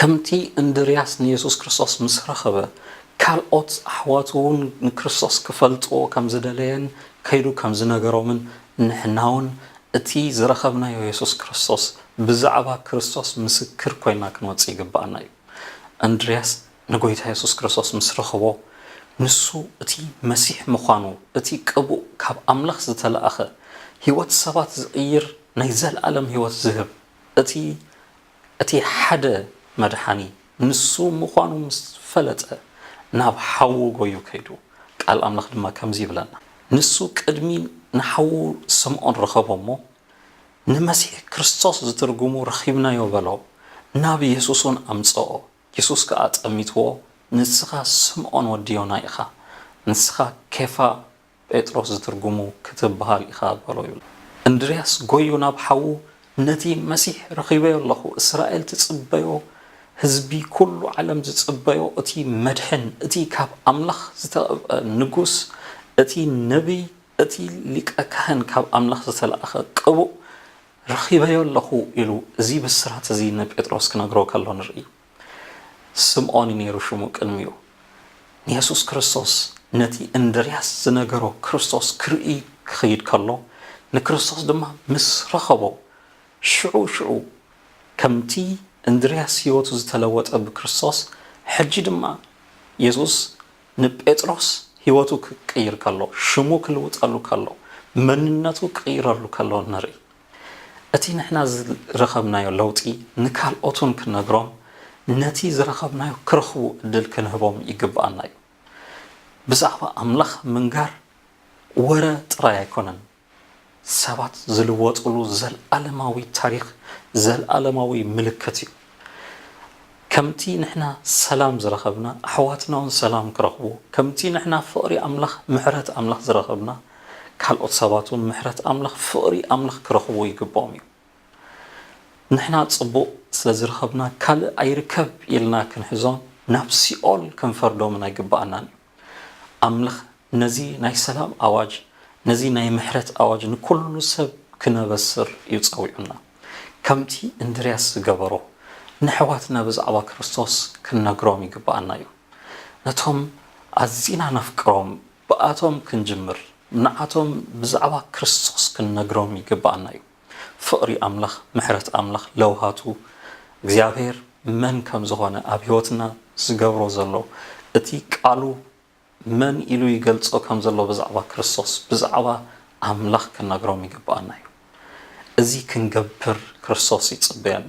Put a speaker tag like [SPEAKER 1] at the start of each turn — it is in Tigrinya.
[SPEAKER 1] ከምቲ እንድርያስ ንየሱስ ክርስቶስ ምስ ረኸበ፣ ካልኦት ኣሕዋቱ እውን ንክርስቶስ ኪፈልጥዎ ከም ዝደለየን ከይዱ ከም ዝነገሮምን፣ ንሕና እውን እቲ ዝረኸብናዮ የሱስ ክርስቶስ ብዛዕባ ክርስቶስ ምስክር ኰይንና ክንወጽእ ይግብኣና እዩ። እንድርያስ ንጎይታ የሱስ ክርስቶስ ምስ ረኸቦ፣ ንሱ እቲ መሲሕ ምዃኑ፣ እቲ ቅቡእ ካብ ኣምላኽ ዝተላእከ፣ ህይወት ሰባት ዝቕይር ናይ ዘለኣለም ህይወት ዝህብ፣ እቲ እቲ ሓደ መድሓኒ ንሱ ምዃኑ ምስ ፈለጠ፣ ናብ ሓዉ ጎዩ ከይዱ። ቃል ኣምላኽ ድማ ከምዚ ይብለና፣ ንሱ ቅድሚ ንሓዉ ስምዖን ረኸቦ እሞ፣ ንመሲሕ ክርስቶስ ዝትርጉሙ ረኺብናዮ በሎ፣ ናብ የሱስውን ኣምጸኦ። የሱስ ከኣ ጠሚትዎ፣ ንስኻ ስምዖን ወዲ ዮና ኢኻ፣ ንስኻ ኬፋ፣ ጴጥሮስ ዝትርጉሙ፣ ክትብሃል ኢኻ በሎ ይብሎ። እንድርያስ ጎዩ ናብ ሓዉ ነቲ መሲሕ ረኺበዮ ኣለኹ፣ እስራኤል ትጽበዮ፣ ህዝቢ ኩሉ ዓለም ዝጽበዮ እቲ መድሕን፣ እቲ ካብ ኣምላኽ ዝተቐብኣ ንጉስ፣ እቲ ነብይ፣ እቲ ሊቀ ካህን ካብ ኣምላኽ ዝተላእከ ቅቡእ፣ ረኺበዮ ኣሎኹ ኢሉ እዚ ብስራት እዚ ንጴጥሮስ ክነግሮ ከሎ ንርኢ። ስምኦን እዩ ነይሩ ሽሙ ቅድሚኡ። ንየሱስ ክርስቶስ ነቲ እንድርያስ ዝነገሮ ክርስቶስ ክርኢ ክኸይድ ከሎ ንክርስቶስ ድማ ምስ ረኸቦ ሽዑ ሽዑ ከምቲ እንድርያስ ህይወቱ ዝተለወጠ ብክርስቶስ ሕጂ ድማ የሱስ ንጴጥሮስ ሕይወቱ ክቅይር ከሎ፣ ሽሙ ክልውጠሉ ከሎ፣ መንነቱ ክቕይረሉ ከሎ ንርኢ። እቲ ንሕና ዝረኸብናዮ ለውጢ ንካልኦትውን ክንነግሮም፣ ነቲ ዝረኸብናዮ ክረኽቡ ዕድል ክንህቦም ይግብኣና እዩ። ብዛዕባ ኣምላኽ ምንጋር ወረ ጥራይ ኣይኮነን። ሰባት ዝልወጥሉ ዘልኣለማዊ ታሪኽ ዘልኣለማዊ ምልክት እዩ። ከምቲ ንሕና ሰላም ዝረኸብና ኣሕዋትና ውን ሰላም ክረኽቡ ከምቲ ንሕና ፍቕሪ ኣምላኽ ምሕረት ኣምላኽ ዝረኸብና ካልኦት ሰባት ውን ምሕረት ኣምላኽ ፍቕሪ ኣምላኽ ክረኽቡ ይግብኦም እዩ። ንሕና ጽቡቕ ስለ ዝረኸብና ካልእ ኣይርከብ ኢልና ክንሕዞን ናብ ሲኦል ክንፈርዶምን ኣይግብኣናን እዩ። ኣምልኽ ነዚ ናይ ሰላም ኣዋጅ ነዚ ናይ ምሕረት ኣዋጅ ንኩሉ ሰብ ክነበስር እዩ ጸዊዑና። ከምቲ እንድርያስ ዝገበሮ ነሕዋትና ብዛዕባ ክርስቶስ ክንነግሮም ይግብኣና እዩ። ነቶም ኣዚና ነፍቅሮም ብኣቶም ክንጅምር ንዓቶም ብዛዕባ ክርስቶስ ክንነግሮም ይግብኣና እዩ። ፍቕሪ ኣምላኽ ምሕረት ኣምላኽ ለውሃቱ እግዚኣብሔር መን ከም ዝኾነ ኣብ ሕይወትና ዝገብሮ ዘሎ እቲ ቃሉ መን ኢሉ ይገልጾ ከም ዘሎ ብዛዕባ ክርስቶስ ብዛዕባ ኣምላኽ ክንነግሮም ይግብኣና እዩ እዚ ክንገብር ክርስቶስ ይጽበየና።